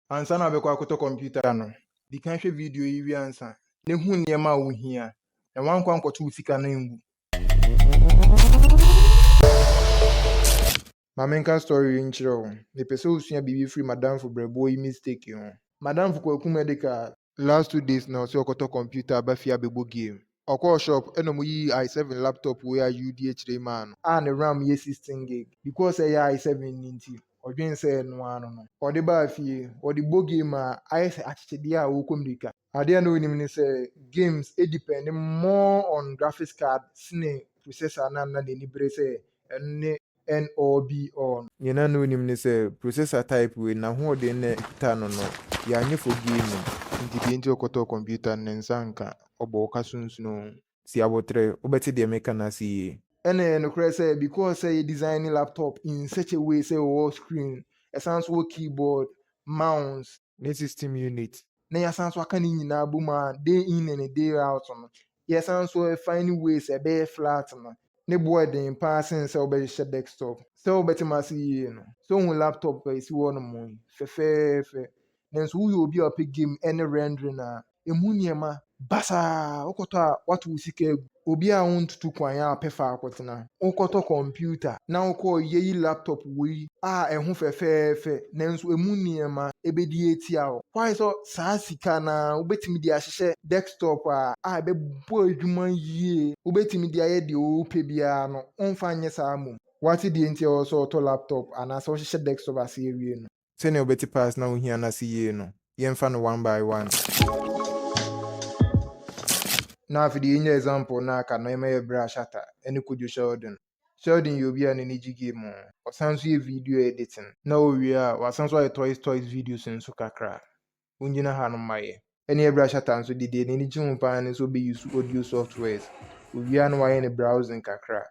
Ansa na wobɛkɔ akɔtɔ kɔmputa no, di kan hwɛ video yi wie ansa, na hu nneɛma a wuhia, na woankɔ ankɔto wo sika no angu. Ma menka story yi nkyerɛ wo. Mepɛ sɛ wusua biribi firi m'adamfo brɛboɔ yi mistake ho. M'adamfo Kwaku Medical Last two days na ɔse ɔkɔtɔ computer aba fie abɛbɔ game. Ɔkɔɔ shop na ɔmo yii I seven laptop wei a UDA kyerɛ yi maa no. A ne ram yɛ sixteen gig. Because ɛyɛ I seven no nti, ɔdwen sɛ ɛno ara no no. Ɔde baa fie, ɔde bɔ game a, ayɛ sɛ akyekyedeɛ a ɔɔkɔ mirika. Adeɛ a na ɔnnim ne sɛ, games depend more on graphics card sene processor no a na n'ani bere sɛ ɛno ne. NOBOn. Nea na no nnim ne sɛ processor type wei no n'ahoɔden no na ɛkuta no no yɛ anyefo gaming. Nti deɛ nti ɔkɔtɔɔ computer no ne nsa nka, ɔbɔ wo ka so nsunoo. Si aboterɛ, wobɛte deɛ meka no ase yie. Ɛna ɛyɛ nokorɛ sɛ because sɛ yɛ design laptop in such a way sɛ ɛwɔ screen, ɛsan nso wɔ keyboard, mouse, ne system unit. Na yɛasan nso aka ne nyinaa abɔ mu a day in ne day out no, yɛsan nso refine ways a ɛbɛyɛ flat no. Ne bo yɛ den paa sen sɛ wobɛhyehyɛ desktop. Sɛ wobɛte m'ase yie no, sɛ wohu laptop a ɛsi hɔnom yi, fɛfɛɛfɛ. Nanso woyɛ obi a ɔpɛ game ne rendering a, ɛmu nneɛma. Basaa! Wokɔtɔ a, woato wo sika agu. Obi a wontutu kwan a ɔpɛ faa kɔtena. Wokɔtɔ kɔmputa na wokɔɔ yɛyi laptop woi a ɛho fɛfɛɛfɛ nanso ɛmu nneɛma ɛbɛdi atia wo. Why sɛ saa sika no ara wobɛtumi de ahyehyɛ desktop a a ɛbɛbɔ adwuma yie. Wobɛtumi de ayɛ deɛ wopɛ biara no womfa nyɛ saa mmom. Woate deɛ nti a ɛwɔ sɛ wotɔ laptop anaasɛ wohyehyɛ desktop ase awie no? sɛnea ɔbɛte paa sna ohia no ase yie no, yɛmfa no one by one. Na afei deɛ yɛnya example no a aka no ɛma yɛ Bra Shatta ne Kojo Sheldon. Sheldon yɛ obi a n'ani gye game ho, ɔsan nso yɛ video editing, na owie a wasan nso ayɛ toys toys videos nso kakra. wongyina hanom ma yɛ. Ɛne ɛbra shutter nso deɛ deɛ n'ani gye ho paa ne sɛ ɔbɛ use audio softwares, ɔwie a na wayɛ ne browsing kakra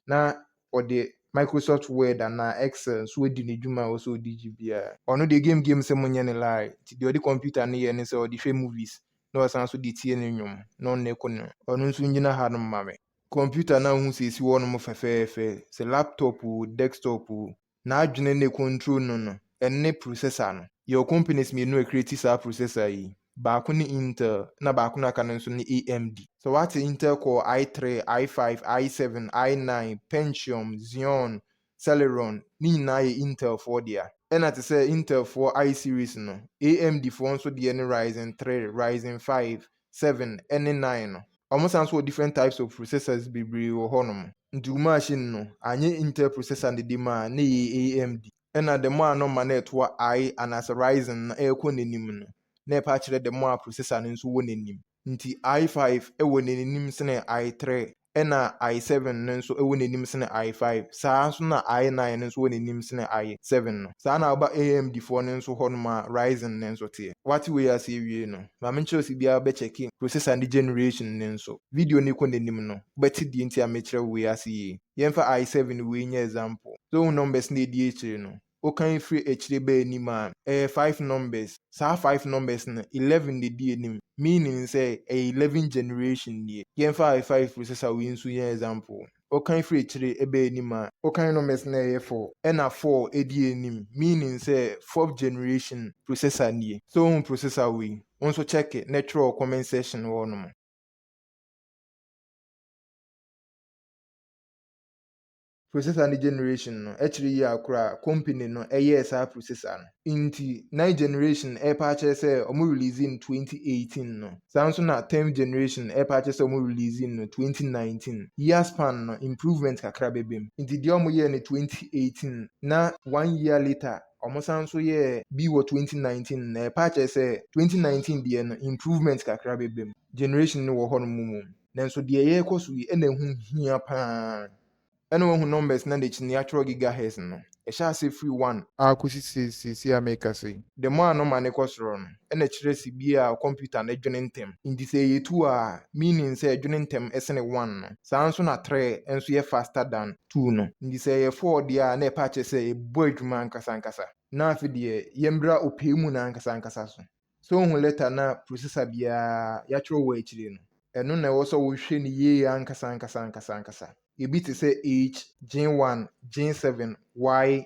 na ɔde Microsoft Word anaa Excel nso adi ne dwuma a ɛwɔ sɛ ɔde gye biara. Ɔno deɛ game game sɛ monyɛ no lie, nti deɛ ɔde computer no yɛ ne sɛ ɔde hwɛ movies na ɔsan nso de tie ne nnwom na ɔnna ɛkɔ ne mu. Ɔno nso ngyina hanom ma me. Computer no a wohu sɛ ɛsi hɔnom fɛfɛɛfɛ, sɛ laptop oo, desktop oo, n'adwene ne control no no ɛne processor no. Yɛwɔ companies mmienu a ɛcreate saa processor yi, baako ne Intel na baako no a aka no nso ne AMD. Sɛ woate Intel Core I three, I five, I seven, I nine, Pentium, Xeon, Celeron ne nyinaa yɛ Intel foɔ dea. Ɛna te sɛ Intel foɔ I series no, AMD foɔ nso deɛ ne Ryzen three, Ryzen five, seven ne nine no. Ɔmo san so wɔ different types of processors bebree wɔ hɔ nom. Nti wo machine no anyɛ Intel processor ne de maa na ɛyɛ AMD. Ɛna the more a na ɔma no ɛtoa I anaasɛ Ryzen no ɛɛkɔ n'anim no na ɛpɛ akyerɛ the more a processor no nso wɔ n'anim. Nti I five ɛwɔ n'anim sene I three. ɛna I seven no nso wɔ n'anim sene I five, saa ara nso na I nine no nso wɔ n'anim sene I seven no. Saa na woba AMD foɔ no nso hɔ nom a Ryzen no nso teɛ. Woate wei ase awie no, ma menkyerɛ wo sɛ biara bɛkyɛke processor ne generation no nso. Video no rekɔ n'anim no, wobɛte deɛ nti a mekyerɛ wo wei ase yie. Yɛmfa I seven wei nyɛ example. So wohu numbers no a ɛdi akyire no? wokan firi akyire ba anim a, ɛyɛ five numbers. Saa five numbers no, eleven na ɛdi anim, meaning sɛ, ɛyɛ eleven generation nie. Yɛmfa I five processor wei nso nyɛ example. Wokan firi akyire ba anim a, wokan numbers no a, ɛyɛ four, ɛna four di anim, meaning sɛ, fourth generation processor nie. Sɛ wohu processor wei, wo nso check na twerɛ wɔ comment section hɔ nom. Processor ne generation no kyerɛ yie a koro a company no yɛɛ saa processor no. Nti ninth generation ɛrepa akyerɛ sɛ wɔn release no twenty eighteen no, saa nso na tenth generation ɛrepa akyerɛ sɛ wɔn release no twenty nineteen. Year span no improvement kakra bɛba mu. Nti deɛ wɔn yɛɛ no twenty eighteen na one year later wɔn san nso yɛɛ bi wɔ twenty nineteen no ɛrepa akyerɛ sɛ twenty nineteen deɛ no improvement kakra bɛba mu. Generation no wɔ hɔ nom mmom. Nanso deɛ yɛrekɔ so yi na ɛho hia pa ara. Ɛna woahu numbers no a n'akyi no yɛatwerɛ gigahertz no? Ɛhyɛ aseɛ firi one. A kɔsi seesei a merekasa yi. The more a nɔma no kɔ soro no, ɛna ɛkyerɛ sɛ bi a kɔmputa no dwene ntɛm. Nti sɛ ɛyɛ two a, meaning sɛ ɛdwene ntɛm sene one no. Saa ara nso na three nso yɛ faster than two no. Nti sɛ ɛyɛ four deɛ a, na ɛpɛ akyerɛ sɛ ɛbɔ adwuma ankasa ankasa. Na afei deɛ, yɛmmra ɔpɛɛ mu no ankasa ankasa so. Sɛ wohu lɛta no a prosesa biara yɛatwerɛ wɔ akyire no, ɛno na ɛwɔ sɛ wohwɛ no yie ankasa ankasa ankasa ankasa. Ebi te sɛ H, Gene 1, Gene 7, Y,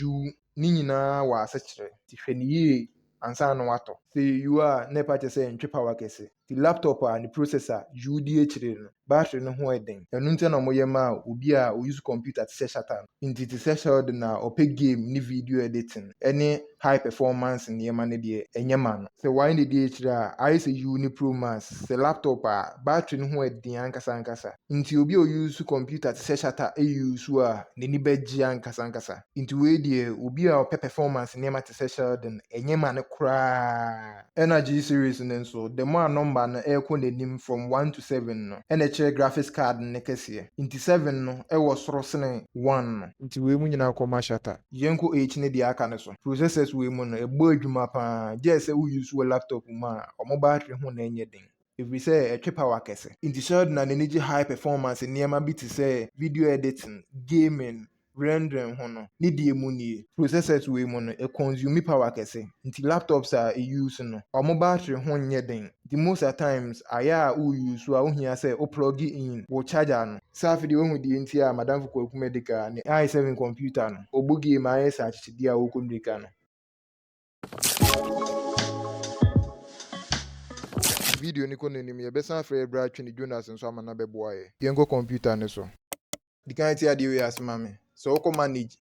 U, ne nyinaa wɔ asekyerɛ, nti hwɛ no yie ansa na woatɔ. Sɛ ɛyɛ U a, na ɛpa kyerɛ sɛ ɛntwe power kɛse. Ntsi laptop a ne processor yuw dzi ekyir no, battery no ho yɛ dzen. Ɔno ntsi na wɔyɛ maa obi a ouse computer tse sɛ Shatta no. Ntsi tse sɛ Sheldon a ɔpɛ game ne video a yɛdze tsen ne high performance ndzɛmba no deɛ, nnyɛ ma no. Sɛ ɔannyɛ dede ekyir a, ayɛ sɛ yuw ne Pro Max, sɛ laptop a, battery no ho yɛ dzen ankasa ankasa. Ntsi obi a ouse computer tse sɛ Shatta euse a, n'enyi bɛgye ankasa ankasa. Ntsi wei deɛ, obi a ɔpɛ performance ndzɛmba tse sɛ Sheldon, nnyɛ ma no koraa. Ɛna G-Series no nso, the more a nɔmba no rekɔ n'enyim from one to seven no, ɛna ɛkyerɛ graphics card no ne kɛseɛ. Ntsi seven no wɔ soro sene one no. Ntsi wei mu nyina kɔ ma shatter. Yɛnkɔ eight ne deɛ aka no so. Processors wei mu no, ɛbɔ edwuma paa, gyɛɛ sɛ wo use wo laptop mu a, ɔmo battery ho na ɛnyɛ den. Efirisɛ ɛtwe power kɛse. Ntsi Sheldon na n'ani gye high performance nneɛma bi te sɛ video editing, gaming, rendering ho no, ne deɛ mu nie. Processors wei mu no, e consume power kɛse, nti laptops a e use no, wɔn battery ho nyɛ den, nti most a times ayɛ a wo use a, wo hia sɛ wo plug in wo charger no. Sɛ afe deɛ wahu deɛ nti a Madamfo Kwaku Medika ne i7 computer no, ɔbɔ game a ayɛ sɛ akyekyedeɛ a ɔrekɔ mmirika no. Video no kɔ n'anim, yɛbɛsan afrɛ yɛn bra Twene Jonas nso ama no abɛboa yɛn. Yɛnkɔ kɔmputa no so. Di kan te adeɛ wei ase ma me. Sɛ wokɔ Manage,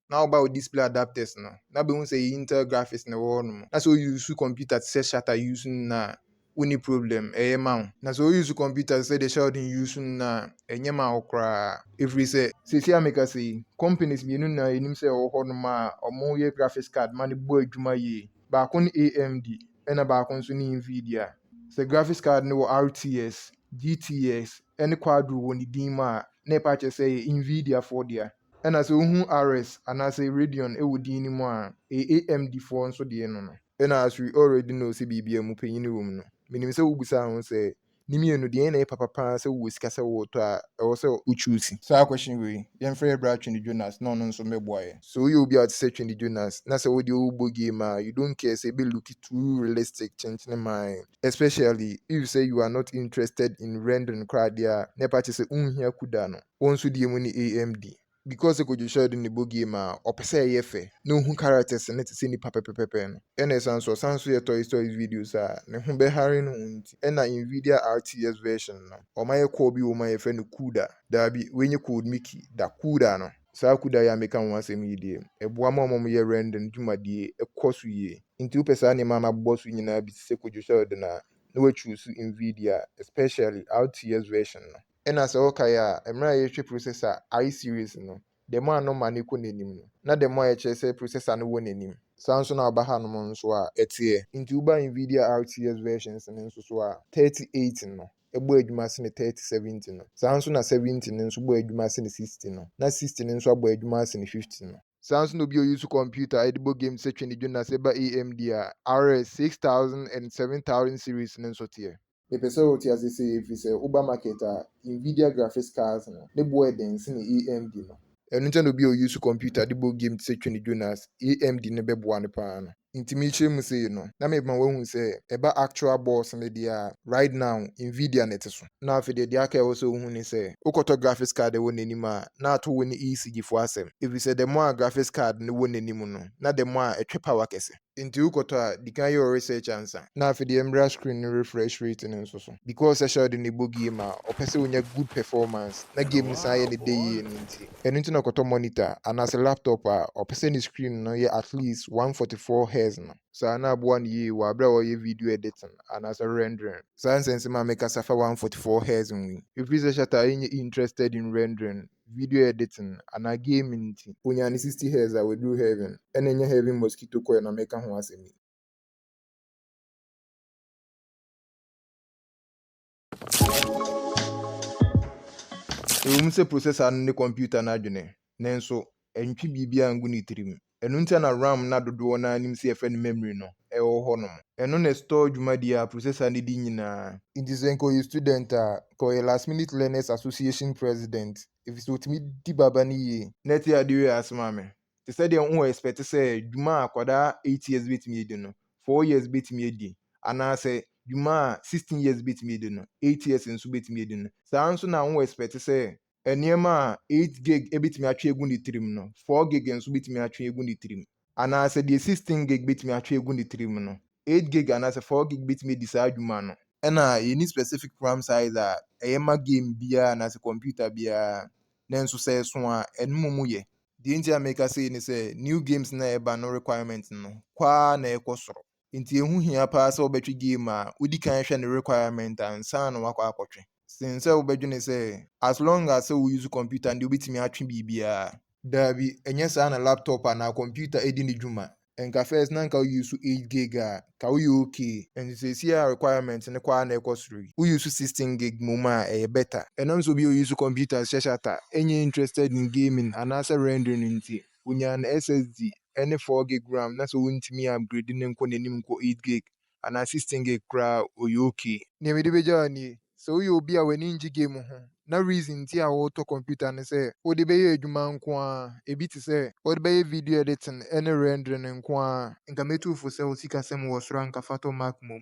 na woba wo Display Adapters no, na bɛhu sɛ ɛyɛ Intel Graphics na ɛwɔ hɔnom. Na sɛ wo use kɔmputa te sɛ Shatter use no nyinaa a, wonni problem, ɛyɛ ma wo. Na sɛ wo use computer te sɛ deɛ Sheldon use no no a, ɛnyɛ ma wo koraa. Ɛfiri sɛ. Seesei a mekasa yi, companies mmienu na yɛnim sɛ ɛwɔ hɔ nom a wɔyɛ graphics card ma no bɔ adwuma yie. Baako ne AMD ɛna baako nso ne Nvidia. Sɛ graphics card no wɔ RTX, GTX ɛne Quadro wɔ ne din mu a, na ɛpa kyerɛ sɛ ɛyɛ Nvidia foɔ dea. Ɛna sɛ wohu RX anaasɛ Radeon wɔ din no mu a, ɛyɛ AMD foɔ nso deɛ no no. Ɛna as we already know sɛ biribiara mu panyin wom no, menim sɛ wobisaa ho sɛ, Ne mmienu, deɛn na ɛyɛ papa pa ara sɛ wowɔ sika sɛ woretɔ a ɛwɔ sɛ wo choose? Saa question wei, yɛmfrɛ yɛ bra Twene Jonas na ɔno nso mmɛboa yɛn. Sɛ woyɛ obi a wote sɛ Twene Jonas na sɛ wodeɛ wobɔ game a, you don't care sɛ ɛbɛ looki too realistic kyenkyene mae, especially if sɛ you are not interested in rendering koraa deɛ a, na ɛpa kyerɛ sɛ wonhia kuda no. Wo nso deɛ mu ne AMD. Because sɛ Kojo sɔre de ne bɔ game a, ɔpɛ sɛ ɛyɛ fɛ, na ohu characters no te sɛ nnipa pɛpɛpɛpɛ no. Ɛna ɛsan so ɔsan so yɛ Toys Toys videos a, ne ho bɛhare no ho nti, ɛna Nvidia RTX version no, ɔma yɛ call bi wɔ mu a yɛfrɛ no CUDA. Daabi, wei nyɛ code Mickey da, CUDA no. Saa CUDA yi a meka ho asɛm yi deɛ, ɛboa ma wɔn a wɔyɛ rendering dwumadie kɔ so yie. Nti wopɛ saa nneɛma a mabobɔ so yi nyinaa bi te sɛ Kojo sɔre de no a, na woachuusu Nvidia, especially RTX version no. Nna sɛ wɔkae a, mber a yɛrehwɛ processor I series no, dɛm a no ma no kɔ n'enyim no, na dɛm a yɛkyerɛ sɛ processor no wɔ n'enyim. Saa so na ɔba hanom so a ɛtseɛ. Ntsi woba Nvidia RTX versions no so so a, thirty eight no bɔ edwuma sene thirty seventy no. Saa so na seventy no so bɔ edwuma sene sixty no, na sixty no so abɔ edwuma asene fifty no. Saa so na obi a ɔuse kɔmputa a yɛdze bɔ games sɛ Twe Ne Dwo na sɛ eba AMD a, RX six thousand and seven thousand series no so tseɛ. Mepɛ sɛ wote ase sɛ ɛfiri sɛ woba market a, Nvidia graphics cards no, ne boɔ yɛ den sene AMD no. Ɛno nti na obi a ɔuse computer de bɔ game te sɛ Twene Jonas, AMD no bɛboa no paa no. Nti merekyerɛ mu sei no, na mema woahu sɛ ɛba actual boards no deɛ a, right now Nvidia na ɛte so. Na afei deɛ deɛ aka a ɛwɔ sɛ wohu ne sɛ, wokɔtɔ graphics card a ɛwɔ n'anim a, na ato wo ne ECG foɔ asɛm. Ɛfiri sɛ the more a graphics card no wɔ n'anim no, na the more a ɛtwe power kɛse. Nti wo kɔtɔ a di kan yɛ wo research ansa. Na afe deɛ mbra screen no refresh rate no nso so. Because Sashal de ne bɔ game a ɔpɛ sɛ onya good performance na game no san yɛ ne dɛ yie no nti. Ɛno nti na ɔkɔtɔ monitor anaasɛ laptop a ɔpɛ sɛ ne screen no yɛ at least one forty four hertz no. Saa na aboa no yie wɔ aberɛ a ɔreyɛ video editing anaasɛ rendering. Saa nsɛnsɛm a mekasa fa one forty four hertz ho yi. Ɛfiri sɛ Shatar nyɛ interested in rendering. video editing anaa gaming nti. Onya ne sixty hertz a waduru heaven. Ɛna ɛnyɛ heaven mosquito coil na meka ho asɛm yi. Ɛwom sɛ processor no ne computer no adwene, nanso ɛntwe biribiara ngu ne tirim. Ɛno ntia na ram na dodoɔ no ara nim sɛ yɛfrɛ no memory no wɔ hɔ nom. Ɛno na ɛstɔɔ dwumadie a processor no di nyinaa. Nti sɛ nka ɔyɛ student a, nka ɔyɛ last minute learners association president efisɛ ɔtumi di baba no yie. Nɛte adeɛ wei ase ma me. Te sɛ deɛ wo expect sɛ dwuma a akwadaa eight years bɛtumi adi no, four years bɛtumi adi, anaasɛ dwuma a sixteen years bɛtumi adi no, eight years nso bɛtumi adi no, saa ara nso na wo expect sɛ nneɛma a eight gig betumi atwe agu ne tirim no, four gig nso betumi atwe agu ne tirim. Anaasɛ deɛ sixteen gig betumi atwe agu ne tirim no, eight gig anaasɛ four gig betumi adi saa adwuma no. Ɛna yɛnni specific ram size a ɛyɛ ma game biara anaasɛ computer biara, nanso sɛ ɛso a, ɛno mmom yɛ. Deɛ enti a mereka sei ne sɛ, new games no a ɛreba no requirement no, kɔ ara na ɛrekɔ soro. Nti ɛho hia paa sɛ wobɛtwe game a, wodi kan hwɛ ne requirement ansa na woakɔ akɔtwe sen sɛ wobɛdwene sɛ as long as sɛ wo use computer no deɛ wobɛtumi atwe biribiara. Daabi, ɛnyɛ saa na laptop anaa computer di ne dwuma. Nka first na nka wo use eight gig a, ka woyɛ okay. Nti seesei a requirement no kɔ ara na ɛkɔ soro yi, wo use sixteen gig mmom a, ɛyɛ better. Ɛnam sɛ obi a use computer hyɛ shutter nyɛ interested in gaming anaasɛ rendering nti, Onyaa ne SSD ne 4 gig ram na sɛ wontumi upgrade no nkɔ n'anim nkɔ 8 gig anaa 16 gig koraa a, ɔyɛ ok. Nea mede bɛgya wo nie, sɛ woyɛ obi a w'ani ngye game ho na reason nti a wotɔ computer ne sɛ wode bɛyɛ adwuma nko ara, ɛbi te sɛ wode bɛyɛ video editing ne rendering nko ara a, nka mɛtu wo fo sɛ wo sikasɛm wɔ soro a nka fa tɔ Mac mmom.